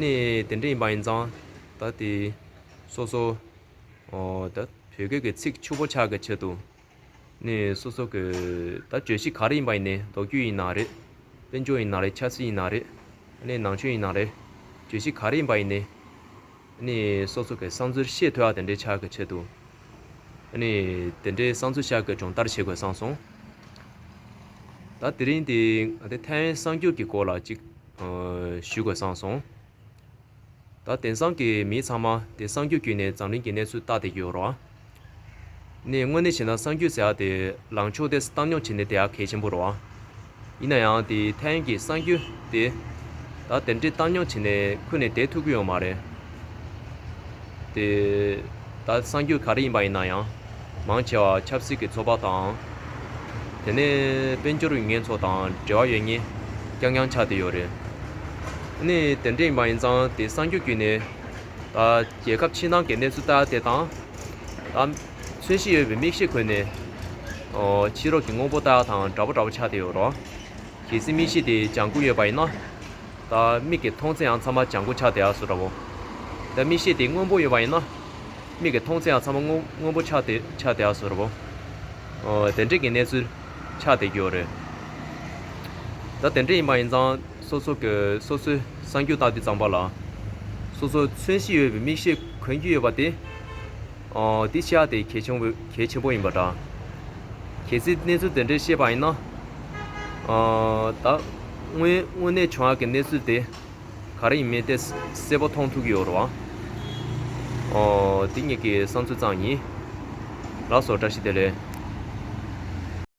ནི་དེ་འདྲ་ཡིན་པ་ཡིན་ཙང་ད་ལྟའི་སོ་སོ་ད་བོད་སྐད་ཀྱི་ཚིག་ཕྱུག་པོ་ཆགས་ཀྱི་ཆེད་དུ་ནི་སོ་སོ་གི་ད་བརྗོད་གཞི་ག་རེ་ཡིན་པ་ཡིན་ནའི་མདོ་རྒྱུད་ཡིན་ན་རེད་དཔལ་འབྱོར་ཡིན་ན་རེད་ཆབ་སྲིད་ཡིན་ན་རེད་ནི་ནང་ཆོས་ཡིན་ན་རེད་བརྗོད་གཞི་ག་རེ་ཡིན་པ་ཡིན་ནའི་ནི་སོ་སོ་གི་བསམ་ཚུལ་ཤེས་ཐུལ་བ་དེ་འདྲ་ཆགས་ཀྱི་ཆེད་དུ་ནི་དེ་འདྲའི་བསམ་ཚུལ་ཤར་གྱི་སྦྱོང་བརྡར་བྱེད་དགོས་བསམ་སོང། ད་དེ་རིང་འདི་ང་ཚོའི་ཐའེ་ཝན་གསར་འགྱུར་གྱི་སྐོར་ལ་ཅིག། ཞུ་དགོས་བསམ་སོང། ད་དེང་སང་གི་མི་ཚང་མ་དེ་གསང་རྒྱུད་བརྒྱུད་ནས་འཛམ་གླིང་གི་གནས་ཚུལ་བལྟ་བསྡད་ཡོད་རོགས་ཨ། ནས་དངོས་གནས་བྱས་ན་གསང་རྒྱུད་ཟེར་བ་དེ་ལངས་ཕྱོགས་དེ་བཏང་སྙོགས་བྱས་ནས་བསྡད་ཡ་གལ་ཆེན་པོ་རོགས་ཨ། ཡིན་ན་ཡང་དེ་ཐའེ་ཡན་གྱི་གསང་རྒྱུད་དེ། ད་དེ་འདྲའི་བཏང་སྙོགས་བྱས་ནས་ཁུར་ནས་བསྡད་ཐུབ་ཀྱི་ཡོད་མ་རེད། དེ་ད་གསང་རྒྱུད་ག་རེ་ཡིན་པ་ཡིན་ན་ཡང་མང་ཆེ་བ་ཆབ་སྲིད་ཀྱི་ཚོགས་པ་དང། དེ་ནས་དཔལ་འབྱོར་ཡུལ་ངན་ཚོ་དང་འབྲེལ་བ་ཡོད་ངེས་རྐྱང་རྐྱང་ཆགས་བསྡད་ཡོད་རེད། དེ་ནས་དེ་འདྲ་ཡིན་པ་ཡིན་ཙང་དེ་གསང་རྒྱུད་བརྒྱུད་ནས་ད་རྒྱལ་ཁབ་ཕྱི་ནང་གི་གནས་ཚུལ་ལྟ་དེ་དང། ད་མཚོན་བྱེད་ཡོད་པའི་མིག་ཤེས་ཁོལ་ནས་ཕྱི་རོལ་གྱི་དངོས་པོ་ལྟ་དང་འདྲ་པོ་འདྲ་པོ་ཆགས་བསྡད་ཡོད་རོ། གལ་སྲིད་མིག་ཤེས་དེ་ལྗང་ཁུ་ཡོད་པ་ཡིན་ན། ད་མིག་གིས་མཐོང་ཚེའང་ཚང་མ་ལྗང་ཁུ་ཆགས་དེའ་སུ་འདྲ་བོ། ད་མིག་ཤེས་དེ་སྔོན་པོ་ཡོད་པ་ཡིན་ན། མིག་གིས་མཐོང་ཚེའང་ཚང་མ་སྔོན་པོ་ཆགས་དེ་ཆགས་དེའ་སུ་འདྲ་བོ། ཨོ། དེ་འདྲས་ཀྱི་གནས་ཚུལ་ཆགས་དེ་རྒྱུ་རེད། ད་དེ་འདྲས་ཡིན་པ་ཡིན་ཙང་སོ་སོ་གི་སོ་སོའི་གསང་རྒྱུ་བརྟག་དུས་ཙམ་པ་ལ། སོ་སོ་མཚོན་གཞི་ཡོད་པའི་མིག་ཤེས་གོན་རྒྱུ་ཡོད་པ་དེ། འདི་ཤ་དེ་གལ་ཆེན་པོ་གལ་ཆེན་པོ་ཡིན་པ་འདྲ། གལ་སྲིད་གནས་ཚུལ་དེ་འདྲའི་ཤེས་པ་ཡིན་ན། ད་དངོས་དངོས་གནས་བྱུང་ཡག་གི་གནས་ཚུལ་དེ་ག་རེ་ཡིན་མིན་དེ་གསལ་པོ་མཐོང་ཐུབ་ཀྱི་ཡོད་རོ། འདི་གཉིས་ཀྱི་བསམ་ཚུལ་ཙམ་ཡིན། ལགས་སོ་བཀྲ་ཤིས་བདེ་ལེགས།